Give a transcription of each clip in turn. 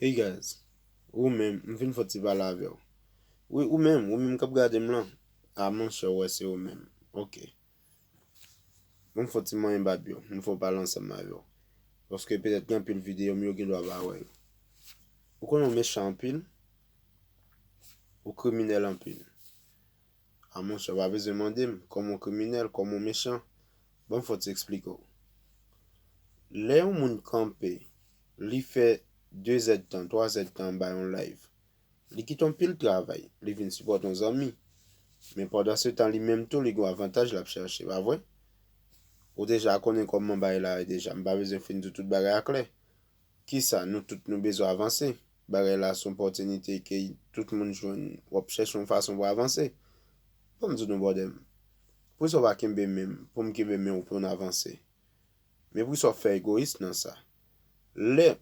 Hey guys, ou menm, m vin fè yon ti pale avè w. Wi ou menm, ou menm k ap gade m lan. A monchè ou wè se ou menm. Ok. Bon m fè yon ti manyen bab yo, m fè yon pale ansanm avè w. Paske petèt gen anpil videyo m yo gen dwa pa wè yo. Ou konnen ou mechan anpil, ou kriminèl anpil. Ah monchè ou pa bezwen mande m kòman w kriminèl, kòman w mechan. Ban m fò ti eksplike w. Lè yon moun kanpe, li fè dezèdtan, twazèdtan anba yon live, li kite yon pil travay, li vin sipòte yon zanmi. Men pandansetan li menm tou li gen yon avantaj l ap chèche, pa vre? Ou deja konnen kòman bagay la ye deja, m pa bezwen fin di w tout bagay a klè. Kisa nou tout nou bezwen avanse. Bagay la son pòtinite ke tout moun jwenn. Wap chèche yon fason pou avanse. Banm di nou bròdè m. Poukisa w pa kenbe men m pou m kenbe men w pou n avanse. Men poukisa w fè egoyis nan sa. Lè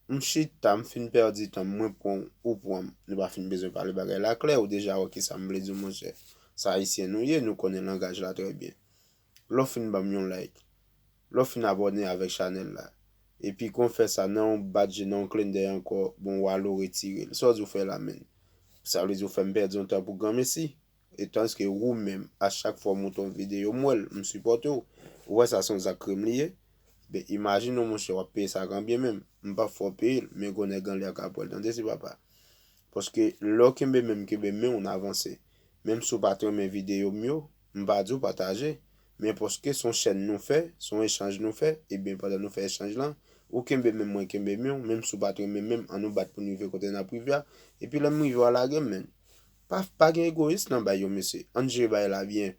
m chita m fin pèdi tan m mwen pran w ou pran m. Nou pa fin bezwen pale bagay la klè ou deja wè kisa m vle di w monchè. Sa ayisyen nou ye nou konnen langaj la trè byen. lè w fin banm yon like, lè w fin abòne avèk chanèl la, epi kon fè sa nan yon bat je nan yon klendèy ankò bon Wallo retire l, sa w di w fè la menn? Sa vle di w fèm pèdi yon tan pou granmesi? E tanske ou menm a chak fwa w monte yon videyo m wè l, m sipòte w, ou wè sa se yon zak krim li ye? Ben imajine w monchè wap peye sa ak anbyen menm, m pap fè w peye l, men gwo nèg anlè ak apre l tande ti papa. Paske lè w kenbe men m kenbe men w n avanse, menm si w pat renmen videyo m yo, M pa diw pataje, men paske son chèn nou fè, son echanj nou fè, ebyen pandan nou fè echanj lan, ou kenbe menm mwen kenbe miw, menm si w pat renmen menm an nou bat poun rive kote nap rive a, epi lèm rive wa lagem menn. Pa pa gen egoyis nan bay yo mesye, ann jere bagay la byen.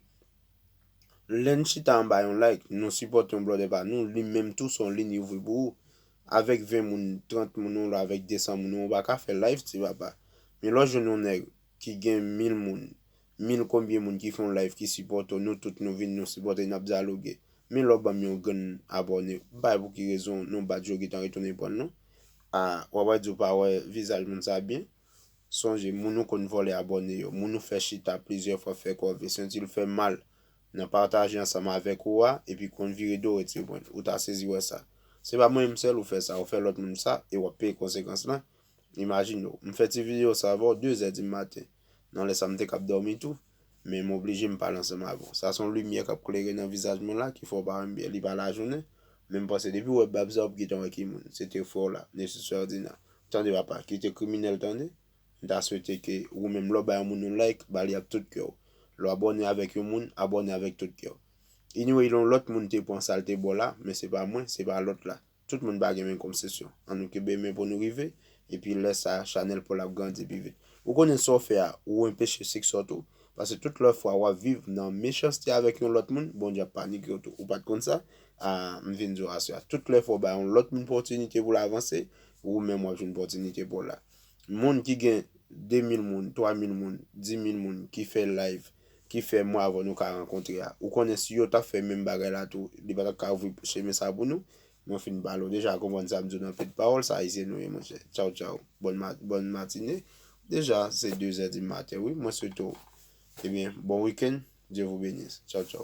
Lèn chita anba yon like, nou sipòte yon blòdè pa nou, li menm tou son lin li ouvri pou ou. Avèk 20 moun, 30 moun ou la avèk 200 moun ou pa ka fè live ti papa. Men lè w jwenn yon nèg ki gen 1000 moun, Mil konbyen moun ki fè yon live ki sipòte w nou tout nou vin nou sipòte nap dyaloge min lè w banm yon grenn abòne ou bay pou ki rezon nou bat yo gentan retounen prann nou ah wap wè di w pa wè vizaj moun sa byen sonje moun ou konn vòlè abòne yo moun ou fè chita plizyè fwa fè kòve senti l fè mal nan pataje ansanm avèk ou a epi konn vire do retire prann ou ta sezi wè sa se pa mwen menm sèl ou fè sa ou fè lòt moun sa e wap peye konsekans lan imajine w m fè ti video sa avè w 2 zè di maten. Nan lè sa m te kab dòmi tou, men m oblije m pale ansanm avè w. Sa se yon limyè k ap klere nan vizaj mwen la ki fè w pa wè m byen. Li pa lajounen, men m panse depi w wè bab sa w ap gentan wè ki moun. Se te frè w la, Nessus Ferdinand. Tande papa, kite kriminèl tande. M ta swete ke wou menm lè w bay yon moun yon like, ba li ak tout kè w. Lè w abòne avèk yon moun, abòne avèk tout kè w. Anyway yon lòt moun te pran sa l te ba w la, men se pa mwen, se pa lòt la. Tout moun pa gen menm komsesyon. An nou kenbe men pou nou rive, epi lè sa a, chanèl paw la ap grandi pi vit. Ou konnen sa w fè a, ou enpeche siksè w tou. Paske tout lòt fwa wap viv nan mechanste avèk yon lòt moun, Bondye ap panike w tou. Ou pat konn sa? Aa, m vin di w aswè a, tout lè fwa w bay yon lòt moun pòtinite pou l avanse, ou menm wap jwenn pòtinite pou w la. Moun ki gen 2000 moun, 3000 moun, 10000 moun ki fè live, ki fè mwa avan nou ka rankontre a. Ou konnen si yo tap fè menm bagay la tou, li pa tap ka ouvri chemen sa pou nou. Mwen fin pale ou deja, konprann sa m di w nan pil pawòl, sa Ayisyen nou ye monchè. Tchaw tchaw, bòn matine. Deja se 2 zè di maten wi, mwen swete w, ebyen bon week-end, Dieu vous benisse. Tchaw tchaw.